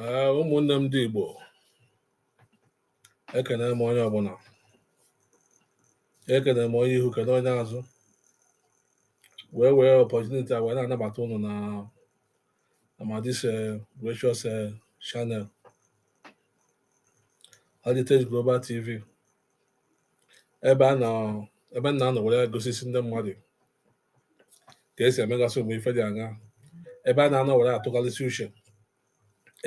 Ee, ụmụnne m ndị Igbo ekene m onye ọbụla ekene m onye ihu kene onye azụ wee wee opportunity a wee na-anabata ụnụ na amadis gracious channel Heritage Global TV ebe a na ebe a na-anọ were gosisi ndị mmadụ ka esi emegasị ụmụ ife dị aṅaa ebe a na-anọ were atụgharịsị uche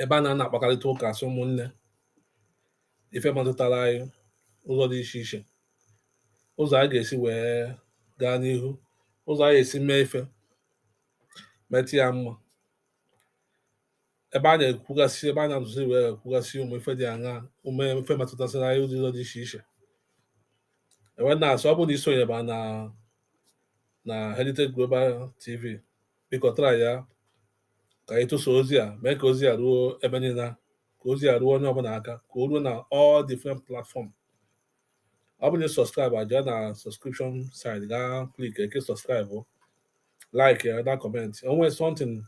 ebe a na-ana akpakarịta ụka as ụmụnne ife metụtara anyị ụzọ dị iche iche ụzọ anyị ga-esi wee gaa n'ihu ụzọ anyị esi mee ife meta ya mma ebe a na-ekwugasị ebe a na-atụzi wee kwugasị ụmụ ife dị aṅaa ụmụ ife metụtasịrị anyị ụdị ụzọ dị iche iche e wee na-asị ọ bụrụ na i sonyeba na na Heritage Global TV biko tara ya ka anyị tụsa ozi a mee ka ozi a ruo ebe niile ka ozi a ruo onye ọbụla aka ka o ruo na all different platform ọ bụrụ na ị subscribe jee na subscription side gaa click kee subscribe like ya na comment o nwere something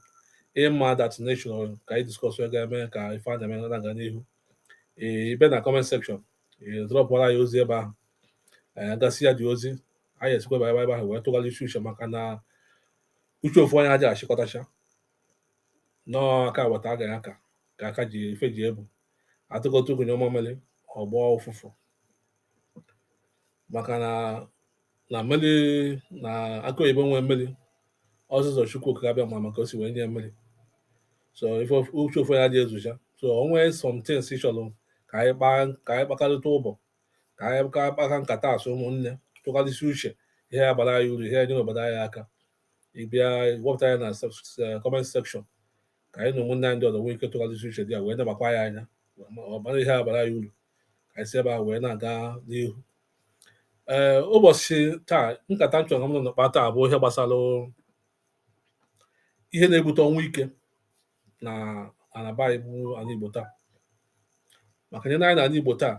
ị ma that nature ka anyị discuss ya ga-eme ka ife a na-eme na-aga n'ihu ị bịa na comment section dropụara anyị ozi ebe ahụ anyị agụsị ya dị ozi anyị esikwa ebe ebe ahụ wee tụgharịsị uche maka na uche ofu onye adịghị achịkọtacha na ọ aka weta aga ya aka ka aka ji ife ji ebu atụkọta ụkwụ nyụọ mamịrị ọ gbọọ ụfụfụ maka na na mmiri na akụ oyibo nwee mmiri ọ sọsọ Chukwu Okike Abịama ma ka o si wee nye mmiri so ife of- uche ofu onye adịghị ezucha so o nwee something ị chọrọ ka anyị kpaa ka anyị kpakarịta ụbụbọ ka anyị ka kpaka nkata as ụmụnne tụgharịsị uche ihe ya-abara anyị uru ihe ya-enyere obodo anyị aka ị bịa wepụta ya na comment section ka anyị na ụmụnne anyị ndị ọzọ nwee ike tụgharịsị uche dị ya wee nebakwa ya anya ọ bụrụ ihe ya-abara anyị uru ka anyị si ebe a wee na-aga n'ihu ee ụbọchị taa nkata m chọrọ ịkpa taa bụ ihe gbasara ihe na-ebute ọnwụ ike n'ana be anyị bụ anị Igbo taa maka i nee anya n'anị Igbo taa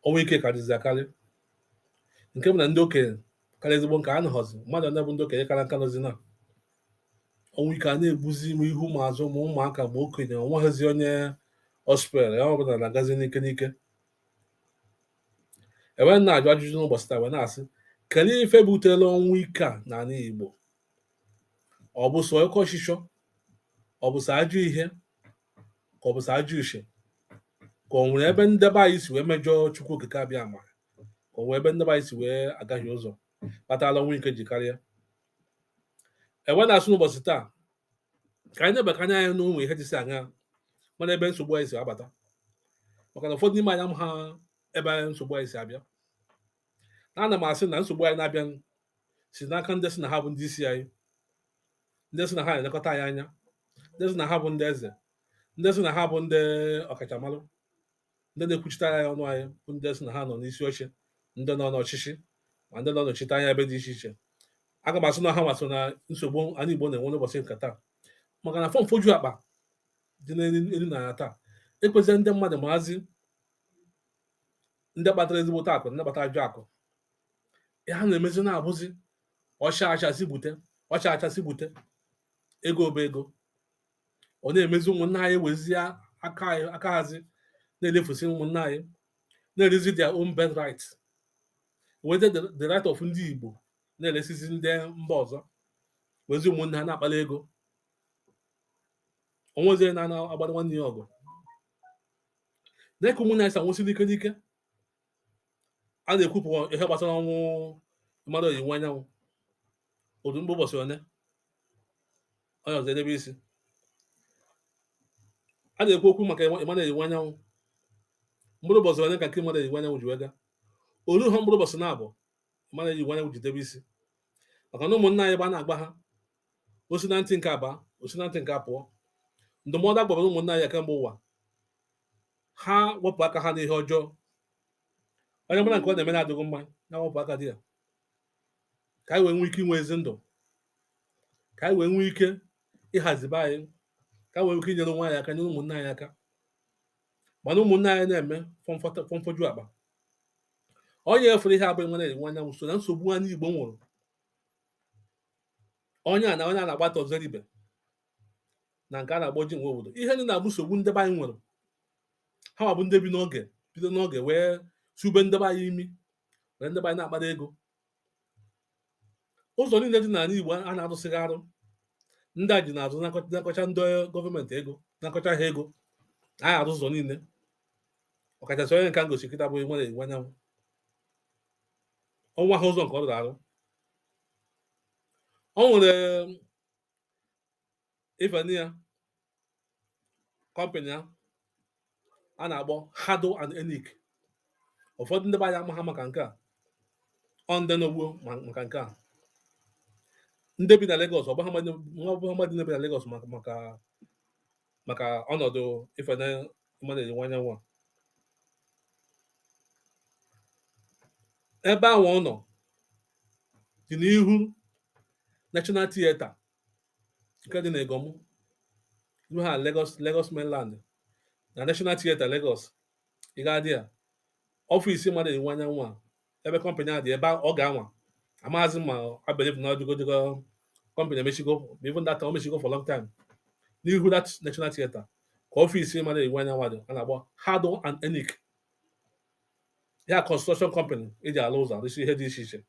ọnwụ ike karịzi akarị nke bụ na ndị okenye kara ezigbo nka anọghọzi ma ọ bụ ndị okenye kara nka nọzi na ọnwụ ike a na-egbuzi m ihu ma azụ ma ụmụaka ma okenye ọ nweghịzi onye ọ spare onye ọbụla na-agazi n'ike n'ike e wee na-ajụ ajụjụ n'ụbọchị taa wee na-asị kedu ife butere ọnwụ ike a n'anị Igbo ọ bụ sọ oke ọchịchọ ọ bụ sọ ajọ ihe ka ọ bụ sọ ajọ uche ka ọ nwere ebe ndị be anyị si wee mejọọ Chukwu Okike Abịama ka ọ nwere ebe ndị be anyị si wee gahie ụzọ kpatara ọnwụ ike ji karịa e wee na-asị n'ụbọchị taa ka anyị lebakwa anya anyị n'ụmụ ihe dịsị anya mana ebe nsogbu anyị si abata maka na ụfọdụ n'ime anyị amaha ebe nsogbu anyị si abịa na ana m asị na nsogbu anyị na-abịa si n'aka ndị sị na ha bụ ndị isi anyị ndị sị na ha na-elekọta anyị anya ndị sị na ha bụ ndị eze ndị sị na ha bụ ndị ọkachamara ndị na-ekwuchitara anyị ọnụ anyị bụ ndị sị na ha nọ n'isi oche ndị nọ n'ọchịchị ma ndị nọ nọchite anya ebe dị iche iche aga m asị na ha nwa so na nsogbu anyị Igbo na-enwe n'ụbọchị nke taa maka na fọmfọju akpa dị n'elu na taa ekwezighị ndị mmadụ mazi ndị kpatara ezigbote akụ ndị kpatara ajọ akụ ha na-emezi na-abụzi ọcha achasị bute ọcha achasị bute ego bụ ego ọ na-emezi ụmụnna anyị wezie aka anyị aka hazi na-elefusi ụmụnna anyị na-erezi their own birth right weta the, the right of ndị Igbo na-eresizi ndị mba ọzọ wezi ụmụnna ha na-akpali ego wezie na-agbara nwanne ya ọgụ dịka ụmụnna anyị si anwụsị n'ike n'ike a na-ekwupụ ihe gbasara ọnwụ Emmanuel Iwuanyanwu ọ dị mkpụrụ ụbọchị one onye ọzọ edebe isi a na-ekwu okwu maka Emmanuel Iwuanyanwu mkpụrụ ụbọchị one ka nke Emmanuel Iwuanyanwu ji wee gaa o luha mkpụrụ ụbọchị naabọ Emmanuel Iwuanyanwu ji debe isi maka na ụmụnna anyị gba na-agba ha o si na ntị nke a baa o si na ntị nke a pụọ ndụmọdụ a gbara ụmụnna anyị kemgbe ụwa ha wepụ aka ha n'ihe ọjọọ onye mara nke ọ na-eme na-adịghị mma ya wepụ aka dị ya ka anyị wee nwee ike inwe ezi ndụ ka anyị wee nwee ike ịhazi be anyị ka anyị wee nwee ike inyere onwe anyị aka nyere ụmụnna anyị aka mana ụmụnna anyị na-eme fọmfọta- fọmfọju akpa onye ị fụrụ ihe a bụ Emmanuel Iwuanyanwu so na nsogbu anyị Igbo nwere onye a na onye a na-akpọ Arthur Nzeribe na nke a na-akpọ Jim Nwobodo ihe ndị a bụ nsogbu ndị be anyị nwere ha nwa bụ ndị bi n'oge bido n'oge wee sube ndị be anyị imi were ndị be anyị na-akpata ego ụzọ niile dị n'ala Igbo a na-arụsịghị arụ ndị a jee n'azụ nakọcha ndị gọọmenti ego nakọcha ha ego a arụ ụzọ niile ọkachasị onye nke a m gosi kịta bụ Emmanuel Iwuanyanwu o nweha ụzọ nke ọ rụrụ arụ o nwere ifeni ya kọmpịnị ya a na-akpọ Hardel and Enic ụfọdụ ndị be anyị amaha maka nke a ọ ndị nọ gboo ma maka nke a ndị bi na Lagos ọ bụ ha mmadụ- ọ bụ ha mmadụ ndị bi na Lagos maka maka maka ọnọdụ ifene Emmanuel Iwuanyanwu a ebe ahụ ọ nọ dị n'ihu National Theatre nke dị n'Iganmu ha Lagos Lagos mainland na National Theatre Lagos ị ga-adị ya ọfịs Emmanuel Iwuanyanwu a ebe kọmpanị a dị ebe oge anwa amaghazị ma I believe na ọdịgodogo kọmpanị emechigo ma even that o mechigo for long time n'ihu that national theater ka ọfisi Emmanuel Iwuanyanwu dị a na-akpọ Hardel and Enic ya construction company eji alụ ụzọ arụsi ihe dị iche iche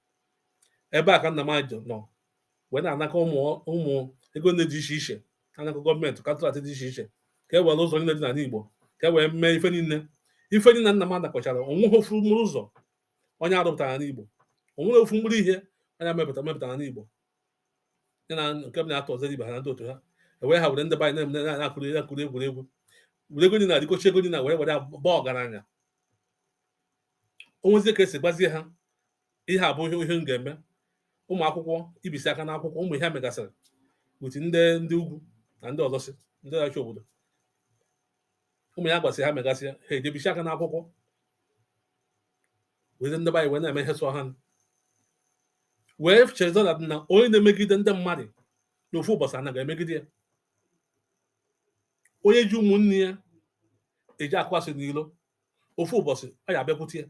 ebe a ka nna m a je nọ wee na-anakọ ụmụ ụmụ ego ndị dị iche iche anakọ gọọmenti kọntraktị dị iche iche ka e wee rụ ụzọ niile dị n'ala Igbo ka e wee mee ife niile ife niile nna m a nakọchara onweghị ofu mkpụrụ ụzọ onye a rụpụtara n'ala Igbo onweghị ofu mkpụrụ ihe onye mepụtara mepụtara n'ala Igbo ya na nke m na-atọ ọzọ ibe ha na ndị otu ha ewee ha were ndị be anyị na-eme na-akụrụ akụrụ egwuregwu were ego niile adịkọchi ego niile were were baa ọgaranya onwezie ka esi gbazie ha ihe a bụ ihe ihe m ga-eme ụmụ akwụkwọ ibisi aka n'akwụkwọ ụmụ ihe ha megasịrị with ndị ndị ugwu na ndị ọzọ si ndị ọchị obodo ụmụ ya gwasị ha megasị ya ha eje bisi aka n'akwụkwọ wezie ndị be anyị wee na-eme ihe sọ ha nụ. wee chezọ na na onye na-emegide ndị mmadụ n'ofu ụbọchị a na-aga emegide ya onye ji ụmụnne ya eji akụ asị n'ilo ofu ụbọchị ọ ya abịakwute ya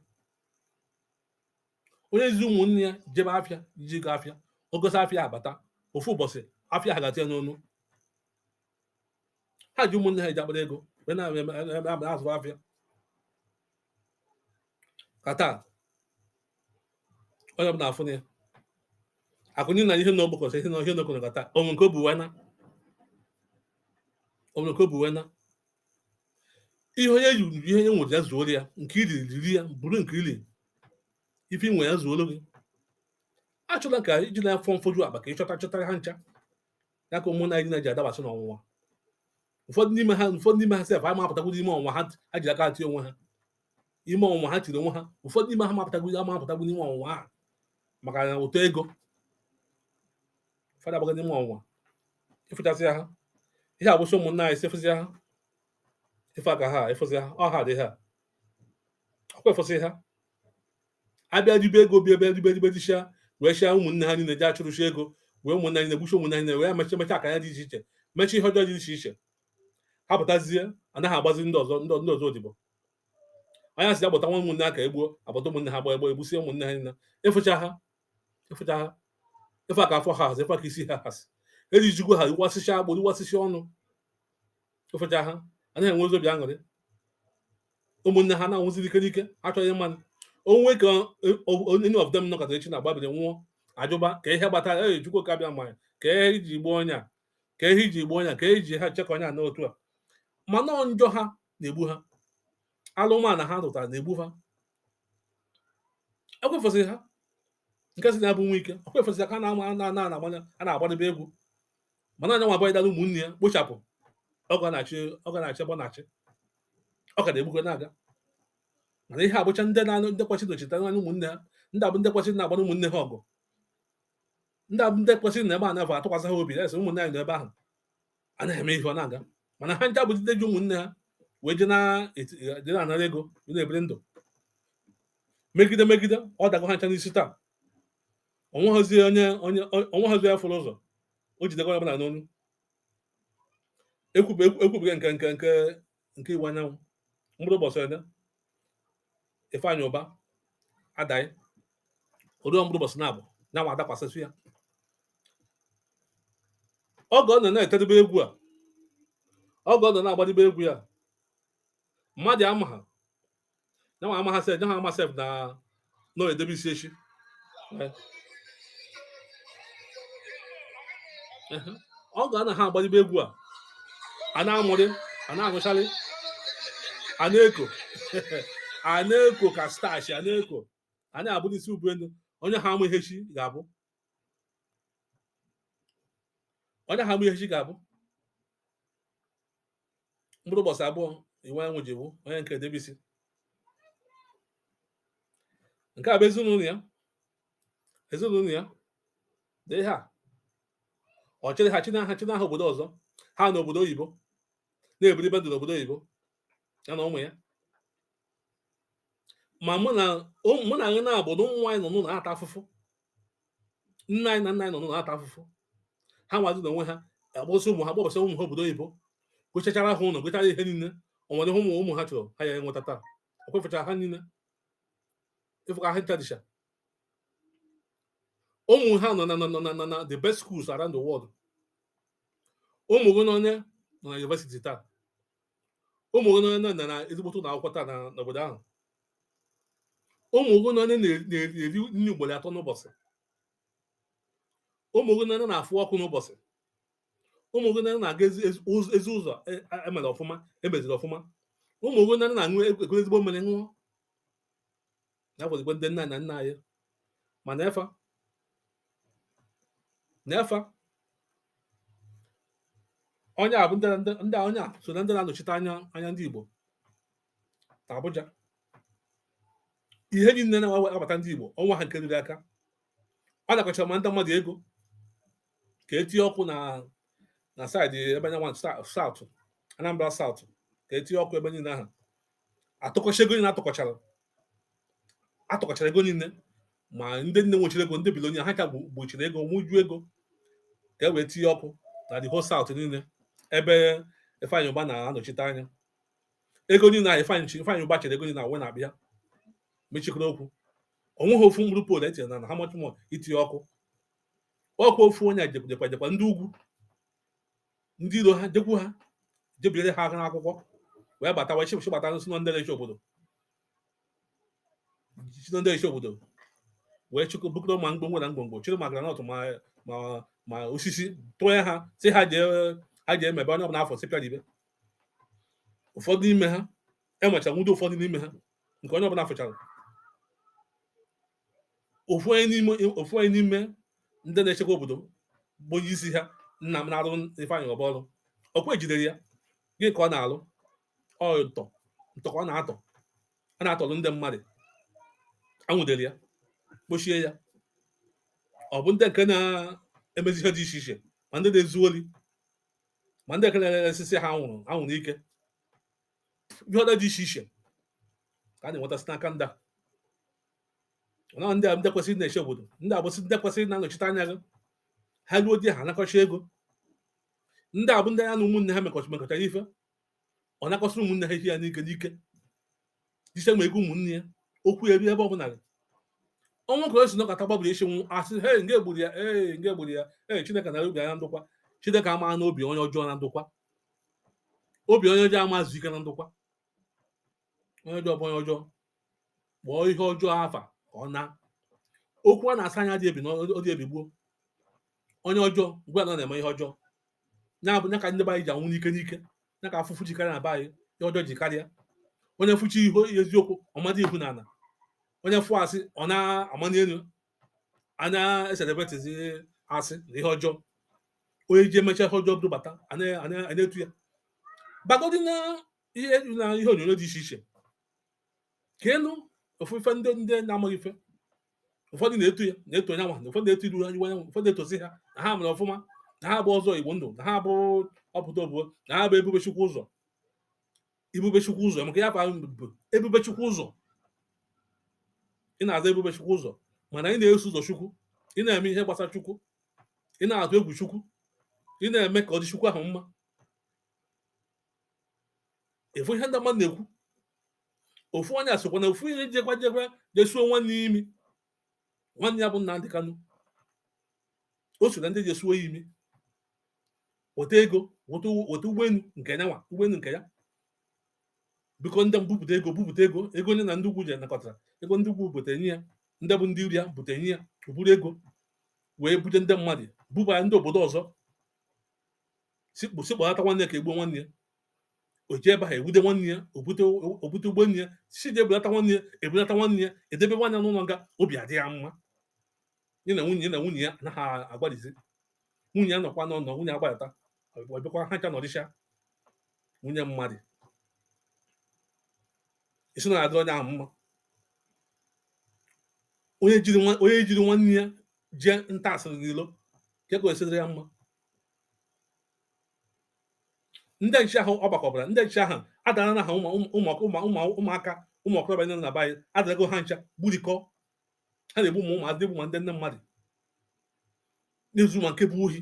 onye ji ụmụnne ya jebe afịa ji goo afịa ọ gosị afịa abata ofu ụbọchị afịa ha ga-ati ya n'ọnụ ha ji ụmụnne ha eji akpara ego wee na-azụ afịa ka taa onye ọbụla afụ na ya akụ niile ihe na ọ gbakọsị ihe na ihe na ọ kọrọ ka taa o nwe nke o bu wee naa o nwe nke o bu wee naa ihe onye ji ji ihe onye nwere ya zuoro ya nke i ri riri ya bụrụ nke i ri ife i nwe ya zuoro gị achọla ka i ji na afọ mfoju akpa ka ị chọta chọtara ha ncha ya ka ụmụ naijiria na-eji adabasị n'ọnwụnwa ụfọdụ n'ime ha ụfọdụ n'ime ha sef ama apụtagwuru ime ọnwụnwa ha ha ji aka ati onwe ha ime ọnwụnwa ha tiri onwe ha ụfọdụ n'ime ha ma apụtagwuru ama apụtagwuru ime ọnwụnwa ha maka na ụtọ ego fa adabago n'ime ọnwụnwa ịfụchasị ha ihe agwụsị ụmụnna anyị si efụzi ha ife aka ha efụzi ha ọ ha dị ha ọkwa efụsị ha abịa ribe ego bịa bịa ribe ribe richa wee chịa ụmụnne ha niile ji achụrụchi ego wee ụmụnne anyị na-egbuchi ụmụnne anyị wee mechi mechi aka ya dị iche iche mechi ihe ọjọọ dị iche iche ha pụtazie anaghị agbazi ndị ọzọ ndị ndị ọzọ odibo anya si agbata ama ụmụnne ha ka egbuo agbata ụmụnne ha ka egbuo egbusie ụmụnne ha niile ịfụcha ha ịfụcha ha ịfụ ka afọ ha hazi ịfụ ka isi ha hazi ejizikwa ha iwasịsị agbụrụ iwasịsị ọnụ ịfụcha ha a na-enwezi obi aṅụrị ụmụnne ha na-anwụzi n'ike n'ike achọghị ịmanụ o nwekwa any of them nọkọtara echi na-agbabiri nwụọ ajụba ka ihe gbatara e jikwa ka bịa mmanya ka ihe e ji gbuo onye a ka ihe e ji gbuo onye a ka ihe e ji ha chekọ onye a n'otu a mana njọ ha na-egbu ha alụmana ha rụtara na-egbu ha ọ kwa ị fụsịrị ha nke sị na ya bụ Wike ọ kwa ị fụsịrị ha ka na-ama na na agbanya a na-agbadebe egwu mana nya nwa gbudara ụmụnne ya gbuchapụ ọ ka na-achị ọ ka na-achị bụ na-achị ọ ka na-egbukwe na-aga mana ihe a bụcha ndị na-anụ ndị kwesịrị ịnọchite anya ụmụnne ha ndị a bụ ndị kwesịrị ịna-agbara ụmụnne ha ọgụ ndị a bụ ndị kwesịrị ịnọ ebe a na-afọ atụkwasị ha obi na-asị ụmụnne anyị nọ ebe ahụ a na-eme ihe ọ na-aga mana ha ncha bụzi ndị ji ụmụnne ha wee je na-anara ego na-ebiri ndụ megide megide ọ dago ha ncha n'isi taa onweghịzi onye onye onweghịzi onye fụrụ ụzọ o jidego onye ọ bụla n'ọnụ ekwubeghị nke nke nke nke Iwuanyanwụ mkpụrụ ụbọchị one Ifeanyị Ụba adaghị ori mkpụrụ ụbọchị naabọ nyanwa adakwasịsị ya oge ọ nọ na-etedebe egwu a oge ọ nọ na-agbadebe egwu ya mmadụ amaha nyanwa amaha sef nyanwa amaha sef na na ọ edebe isi echi Eh. Ehe. oge a na ha agbalibe egwu a a na-amụrị a na-agụcharị a na-eko a na-eko ka stachi a na-eko a na-ebuni isi ubu elu onye ha ma ihe echi ga-abụ onye ha ma ihe echi ga-abụ mkpụrụ ụbọchị abụọ Iwuanyanwụ ji bụ onye nke a edebe isi nke a bụ ezinụlọ ya ezinụlọ ya dị ha ọ chịrị ha chịnaa ha chịnaa ha obodo ọzọ ha nọ obodo oyibo na-ebiribe ndụ n'obodo oyibo ya na ụmụ ya ma mụ na ụmụnne anyị na-abụ na ụmụ anyị nọ n'ụlọ na-ata afụfụ nne anyị na nna anyị nọ n'ụlọ na-ata afụfụ ha nwazi na onwe ha akpọsị ụmụ ha kpọbasị ụmụ ha obodo oyibo gochachara ha ụlọ gochara ihe niile o nwere ihe ụmụ ụmụ ha chọrọ ha ya enweta taa ọ kwa ị fụchara ha niile ịfụ ka ha ncha dịcha ụmụ ha nọ na nọ nọ na- na na the best schools around the world ụmụ gị one nọ na university taa ụmụ gị one nọ na ezigbo ụlọ akwụkwọ taa n'obodo ahụ ụmụ gị one na-eri nri ugboro atọ n'ụbọchị ụmụ gị one na-afụ ọkụ n'ụbọchị ụmụ gị one na-aga ezi ụzọ e mere ọfụma e meziri ọfụma ụmụ gị one na-aṅụ e, ekuru ezigbo mmiri ṅụọ ya bụzikwa ndị nna na nna anyị ma n'efa n'efa onye a bụ ndị onye a so na ndị na-anọchite anya anya ndị Igbo na Abuja ihe niile na-abata ndị Igbo onweghị nke ruru aka ọ nakọchara ma ndị mmadụ ego ka etinye ọkụ na na side ebe anyị nwa south Anambra South ka etinye ọkụ ebe niile ahụ atụkọcha ego niile atụkọchara atụkọchara ego niile ma ndị nne nwechiri ego ndị billionaire ha ka gbochiri ego wụju ego ka e wee tinye ọkụ na the whole south niile ebe Ifeanyi Uba na-anọchite anya ego niile a Ifeanyi Uba chịrị ego niile a wee na-abịa mechikọrọ okwu onweghị ofu mkpụrụ pole etinyere na na how much more itinye ọkụ ọkụ ofu onye jekwa jekwa ndị ugwu ndị iro ha jekwu ha je biere ha aka n'akwụkwọ wee bata wee chịpụchị bata n'osi ndị na-eche obodo si ndị na-eche obodo wee chịkọ bukọrọ ma ngwongwo na ngwongwo chịrị ma granọt ma mma ma osisi tụnye ha sị ha jee ha jee mebe onye ọbụla a fụ sị pịa dibe ụfọdụ n'ime ha emecha nwudo ụfọdụ n'ime ha nke onye ọbụla fụchara ofu onye n'ime ofu onye n'ime ndị na-echekwa obodo bụ onye isi ha nna m na-arụ Ifeanyi Uba ọrụ ọkwa ejidere ya gịnị ka ọ na-alụ ọ ntọ ntọ ka ọ na-atọ a na-atọrọ ndị mmadụ anwudere ya kpochie ya ọ bụ ndị nke na-emezi ihe dị iche iche ma ndị na-ezu ori ma ndị nke na-eresisi ha anwụrụ anwụrụ ike ihe ọda dị iche iche ka a na-enweta site n'aka ndị a na ndị a ndị kwesịrị na-eche obodo ndị a bụsị ndị kwesịrị na-anọchite anya gị already ha anakọcha ego ndị a bụ ndị ya na ụmụnne ha mekọcha mekọchara ife ọ nakọsịrị ụmụnne ha ihe ya n'ike n'ike dise ma ego ụmụnne ya okwu ya ebe ọ bụla ọnwa ka o si nọkata gbabụrụ isi nwụ a sị he onye gburu ya ee onye gburu ya ee chineke na obi anya ndụkwa chineke ama n'obi onye ọjọọ na ndụkwa obi onye ọjọọ ama ezu ike na ndụkwa onye ọjọọ bụ onye ọjọọ kpọọ ihe ọjọọ afa ka ọ na okwu a na-asọ anya adị ebi na ọ dị ebi gboo onye ọjọọ gwa ya na ọ na-eme ihe ọjọọ ya bụ ya ka ndị be anyị ji anwụ n'ike n'ike ya ka afụfụ ji karịa na be anyị ihe ọjọọ ji karịa onye fụchi ihe eziokwu ọmadị ihu na ala onye fụ asị ọ na-amani elu a na-ecelebratezi asị na ihe ọjọọ onye ji emecha ihe ọjọọ dụbata a na- a na- a na-etu ya bagodi na ihe na ihe onyonyo dị iche iche ka ịnụ ofufe ndị ndị na-amaghị ife ụfọdụ na-etu ya na-eto onye nwa ụfọdụ na-etu Ifeanyi nwa ụfọdụ na-etozi ha na ha mere ọfụma na ha bụ ọzọ Igbo ndụ na ha bụ ọpụta obuo na ha bụ ebube chukwu ụzọ ebubechukwu ụzọ maka ya bụ ebubechukwu ụzọ ị na-aza ebubechukwu ụzọ mana ị na-eso ụzọ chukwu ị na-eme ihe gbasara chukwu ị na-atụ egwu chukwu ị na-eme ka ọ dị chukwu ahụ mma ị fụ ihe ndị mmadụ na-ekwu ofu onye asịkwa na ofu ihe jekwa jekwa jee suo nwanne imi nwanne ya bụ Nnamdi Kanu o so na ndị jee suo ya imi weta ego weta ụgbọelu nke ya nwa ụgbọelu nke ya biko ndị mbupụta ego bupụta ego ego onye na ndị ugwu ji anakọtara ego ndị ugwu bute nye ya ndị bụ ndị iro ya bute nye ya o buru ego wee bute ndị mmadụ bubara ndị obodo ọzọ si kpọ- si kpọlata nwanne ka e gbuo nwanne ya o ji ebe ahụ e nwude nwanne ya o bute o bute ụgbọenu ya si ji ebulata nwanne ya e bulata nwanne ya e debe nwanne ya n'ụlọ nga obi adị ya mma ya na nwunye ya na nwunye ya anaghị agbalizi nwunye ya nọkwa n'ụnọ nwunye agbalata ọ bịakwa ha ncha nọdịcha nwunye mmadụ isi na adị onye ahụ mma onye jiri nwa- onye jiri nwanne ya jee nta asịrị n'ilo ka e kwesịrị ya mma ndị nche ahụ ọ gbakọbara ndị nche ahụ adara na ha ụmụaka ụmụ okorobịa ndị na be anyị adarago ha ncha gburikọ ha na-egbu mmadụ egbu ma ndị nne mmadụ na-ezu ma nke bụ ohi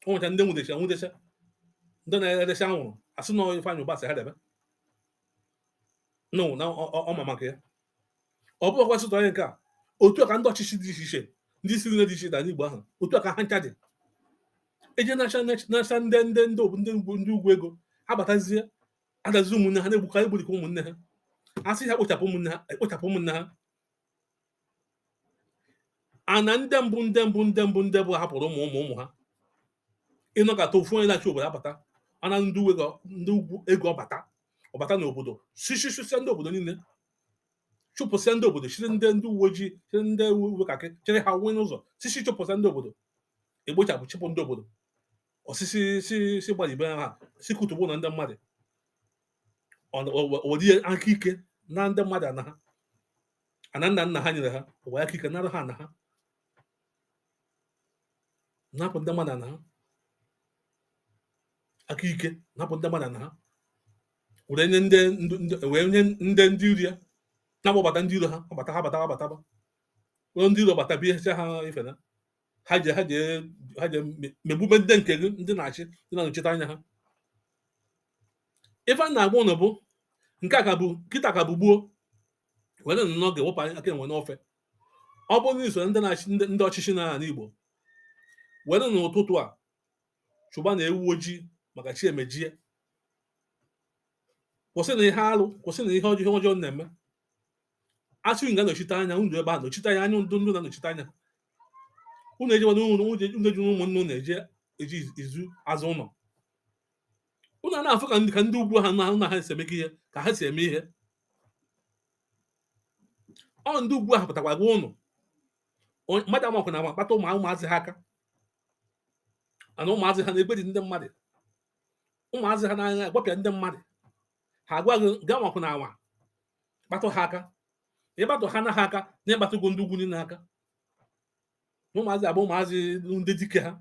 ọ nwecha ndị nwudecha nwudecha ndị na-erecha anwụrụ a sị na Ifeanyị Ubah sị ha debe no na ọ ma maka ya ọ bụrụ ọkwa sụta onye nke a otu a ka ndị ọchịchị dị iche iche ndị isi nile dị iche iche anyị Igbo ahụ otu a ka ha ncha dị e jee nacha ndị ndị ndị ndị ugwu ndị ugwu ego ha batazie adazi ụmụnne ha na-egbuka egburikwa ụmụnne ha a sị ha kpochapụ ụmụnne ha ekpochapụ ụmụnne ha ana ndị mbụ ndị mbụ ndị mbụ ndị mbụ hapụrụ ụmụ ụmụ ụmụ ha ị nọkọta ofu onye na-achị obodo abata ana ndị uwe ga- ndị ugwu ego ọ bata ọ bata n'obodo sị sị sị sị ndị obodo niile chụpụsịa ndị obodo chịrị ndị ndị uwe ojii chịrị ndị uwe kakị chịrị ha nwee n'ụzọ sị sị chụpụsịa ndị obodo e kpochapụ chịpụ ndị obodo sị sị sị sị gbalibe ha si kụtụgbu na ndị mmadụ were aka ike naa ndị mmadụ ana ha ana nna nna ha nyere ha were aka ike nara ha ana ha napụ ndị mmadụ ana ha aka ike napụ ndị mmadụ ana ha were nye ndị wee nye ndị ndị iro ya na-agbabata ndị iro ha abata ha bata ha bataba ụlọ ndị iro bata bịa ha ife na ha je ha je ha je me- megbube ndị nke gị ndị na-achị ndị na-anọchite anya ha ife a na-agwa ụnụ bụ nke a ka bụ kịta ka bụ gboo werenụ oge wepụnụ aka enwe n'ofe ọ bụrụ na i so ndị na-achị ndị ndị ọchịchị na ala Igbo werenụ ụtụtụ a chọbanụ ewu ojii maka chi emejie kwụsịnụ ihe alụ kwụsịnụ ihe ọjọọ ihe ọjọọ na-eme a sị unu gaa nọchite anya unu ebe a nọchite anya anya ndị ndị na-anọchite anya unu ejewa n'ụlọ unu eji ụmụnne unu eje eji izu azụ ụlọ unu a na-afụ ka ndị ka ndị ugwu ha na na ha si eme ihe ka ha si eme ihe ọ ndị ugwu ahụ pụtakwa gwa ụnụ Onye- mmadụ anwakwana anwa kpatụ ụmụ ụmụazị ha aka ana ụmụazị ha na-egbuji ndị mmadụ ụmụazị ha na-agbapịa ndị mmadụ ha agwa gị anwakwana anwa kpatụ ha aka ị kpatụ ha na ha aka na ị kpatụgo ndị ugwu niile aka ụmụazị a bụ ụmụazị ndị dike ha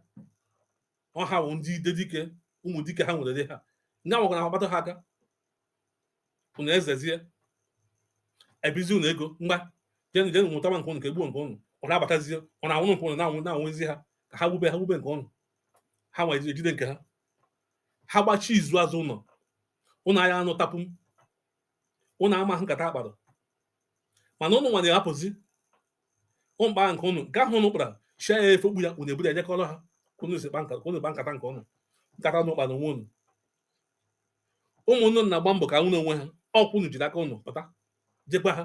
ọ ha bụ ndị dike ụmụ dike ha nwere ha ndị ahụ gwara akpatụ ha aka unu ezezie ebizi unu ego ngwa jenụ jenụ mụtaba nke ụnụ ka e gbuo nke ụnụ ụnụ abatazie ụnụ anwụrụ nke ụnụ na-anwụ na-anwụzi ha ka ha wube ha wube nke ụnụ ha nwere e jide nke ha ha gbachi izu azụ ụlọ ụnụ aya anụta pịm ụnụ amahọ nkata a kpara mana ụnụ nwa na-ahapụzi ụmụkpa nke ụnụ nke ahụ ụnụ kpara chia ya efe okpu ya ụnụ eburu ya nyekọrọ ha ka ụnụ si kpa nkata ka ụnụ kpa nkata nke ụnụ nkata ụnụ kpara onwe ụnụ ụmụnne na-agba mbọ ka ha nwere onwe ha ọ kwa ụnụ jiri aka ụnụ pụta jekwa ha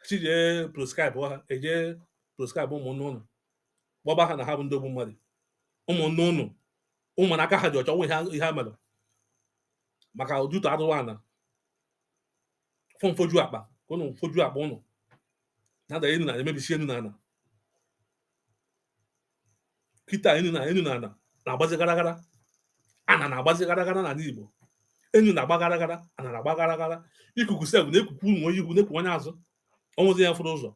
sị jee proscribe ha e jee proscribe ụmụnne ụnụ gbaba ha na ha bụ ndị ogbu mmadụ ụmụnne ụnụ ụmụ na aka ha dị ọcha enwe ihe ha mere maka ojuto adụwa n'afọ mfoju akpa ka ụnụ foju akpa ụnụ na-ada enu na-emebisi enu na ana kịta enu na enu na ana na-agbazi gara gara ana na-agbazi gara gara n'ala Igbo enu na-agba gara gara ana na-agba gara gara ikuku sef na-ekukwu ụmụ onye ihu na-ekwu onye azụ o nwezi onye fụrụ ụzọ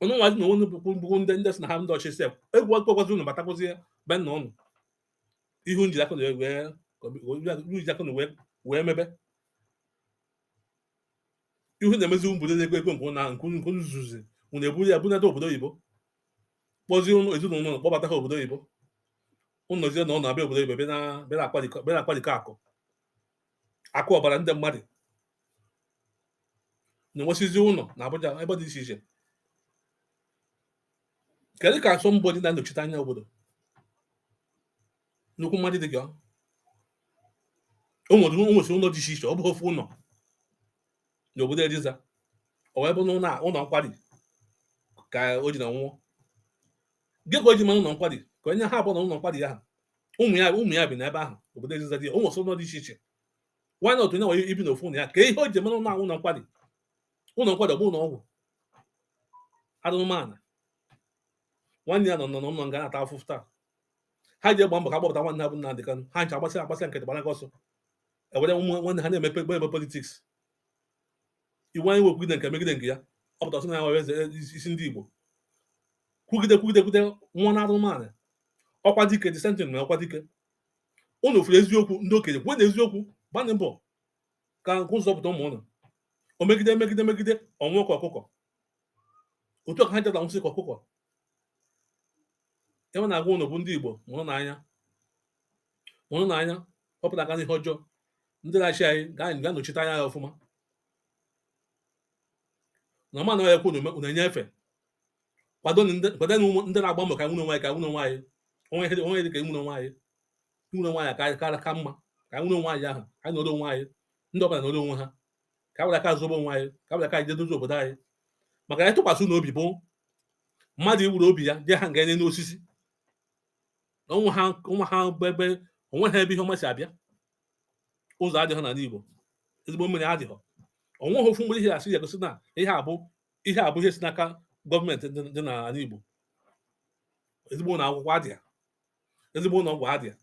ụnụ nwazi na onwe bụkwu ndị ndị sị na ha ndị ọchị sef egwu akpọkwazi ụnụ batakwazi be nna ụnụ ihe ụnụ ji aka ụnụ wee wee mebe ihe na-emezi ụmụ obodo na-ekwe ekwe nke na nke nke ụnụ zuzi ụnụ eburu ya bunata obodo oyibo kpọzie ụlọ ezinụlọ ụnụ kpọbata ha obodo oyibo ụnụ ejezie ụnụ abịa obodo oyibo bịa na- bịa na-akpadikọ bịa na-akpadikọ akụ akụ ọbara ndị mmadụ na-enwesizi ụlọ na Abuja ebe dị iche iche kedu ka somebody na-anọchite anya obodo nnukwu mmadụ dị gị ọ o nwere o nwesịrị ụlọ dị iche iche ọ bụ ofu ụlọ n'obodo Eliza o wee bụ na ụlọ a- ụlọ nkwari ka o ji na nwụọ gịnị ka o ji eme ụlọ nkwari kedu ihe ha bụ na ụlọ nkwari ahụ ụmụ ya ụmụ ya bi n'ebe ahụ obodo Eliza dị ya o nwesịrị ụlọ dị iche iche why not onye nwere ibi n'ofu ụlọ ya kedu ihe o ji eme ụlọ ahụ ụlọ nkwari ụlọ nkwari bụ ụlọ ọgwụ anụmanụ nwanne ya nọ nọ n'ụlọ nga na-ata afụfụ taa ha ji egba mbọ ka kpọpụta nwanne ha bụ Nnamdi Kanu ha ncha agbasị agbasị nkịtị gbara gị ọsọ ewere ụmụ nwanne ha na-emepe gbe ebe politics Iwuanyanwu ekwugide nke megide nke ya ọ pụta sị na ya nwere eze isi ndị Igbo kwugide kwugide kwugide nwụọ naa ala mmụọ Okwadike the same thing na Okwadike ụnụ fụrụ eziokwu ndị okenye kwuonụ eziokwu gbanị mbọ ka unu zọpụta ụmụ unu o megide megide megide ọ nwụọ ka ọkụkọ otu a ka ha jeta nwụsị ka ọkụkọ ihe m na-agwa unu bụ ndị Igbo mụrụnụ anya mụrụnụ anya wepụta aka n'ihe ọjọọ ndị na-achị anyị ga-anọchite anya ya ọfụma na ma anaghị ekwu unu enye efe kwado ndị na-agba mbọ ka anyị nwere onwe anyị ka anyị nwere onwe anyị o nwe ihe dị ka inwere onwe anyị nwere onwe anyị ka ka mma ka nwere onwe anyị ahụ ka anyị nọrọ onwe anyị ndị ọbụla nọrọ onwe ha ka were aka zọbe onwe anyị ka were aka anyị je dozie obodo anyị maka ịtụkwasị unu obi bụ mmadụ iwere obi ya dị hang n'elu osisi o nweha o nweha ebe o nweha ebe ihe ọma si abịa ụzọ adịghị n'ala Igbo ezigbo mmiri adịghị o nweha ofu ihe a sị ya gosi na ihe a bụ ihe a bụ ihe si n'aka gọọmenti dị n'ala Igbo ezigbo ụlọ akwụkwọ adịghị ezigbo ụlọ ọgwụ adịha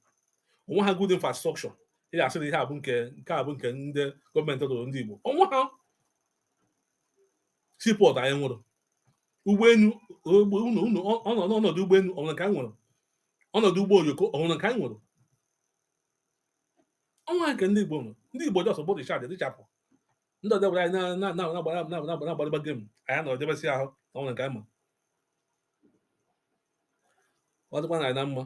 o nweha good infrastructure ị ga-asị na ihe a bụ nke nke a bụ nke ndị gọọmenti rụụrụ ndị Igbo o nweha seaport anyị nwere ụgbọelu ọnọdụ ụgbọelu o nwere nke anyị nwere ọnọdụ ụgbọ oloko o nwere nke anyị nwere o nweha nke ndị Igbo nwere ndị Igbo just bụrụ richard dịchapụ ndị ọdebara anyị na-agbara game anyị nọrọ debesị ahụ o nwere nke anyị ma ọ dịkwa anyị na mma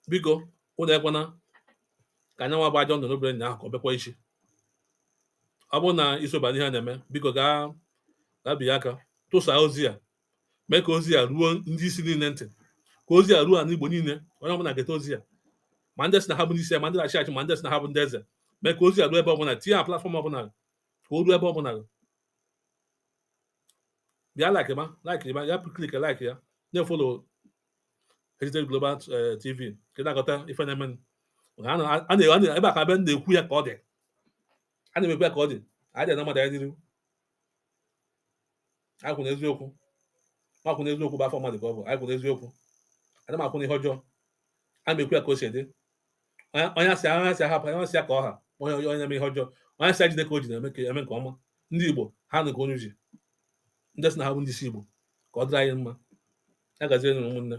biko unu ekwena ka nya nwa bụ ajọ ndụ anyị biri nnyaahụ ka ọ bịakwa echi ọ bụrụ na i soba n'ihe a na-eme biko gaa gaa pịa aka tụsaa ozi a mee ka ozi a ruo ndị isi niile ntị ka ozi a ruo ala igbo niile onye ọbụla geta ozi a ma ndị sị na ha bụ ndị isi ya ma ndị na-achị achị ma ndị sị na ha bụ ndị eze mee ka ozi a ruo ebe ọbụla tinye ya platform ọbụla ka o ruo ebe ọbụla bịa like ma like ma ya click like ya na-efollow Heritage Global eh, TV ka ị na-agọta ife na-eme ebe a ka be na-ekwu ya ka ọ dị ana m ekwu ya ka ọ dị adị ene mmadụ anya n'iru akwụ na eziokwu akwụ na eziokwu bụ afọ mmadụ ka ọ bụ akwụ na eziokwu adị m akwụ na ihe ọjọọ ana m ekwu ya ka o si dị onye asị onye a sị hapụ onye a sị ya ka ọ ha onye onye onye eme ihe ọjọọ onye a sị ya jide ka o ji na-eme nke ọma ndị igbo ha nụ ka onye uche ndị sị na ha bụ ndị isi igbo ka ọ dịrị anyị mma ya gazie nụ ụmụnne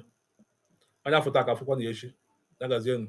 onye a fụ taa ka a fụkwanụ ya echi ya gazie nụ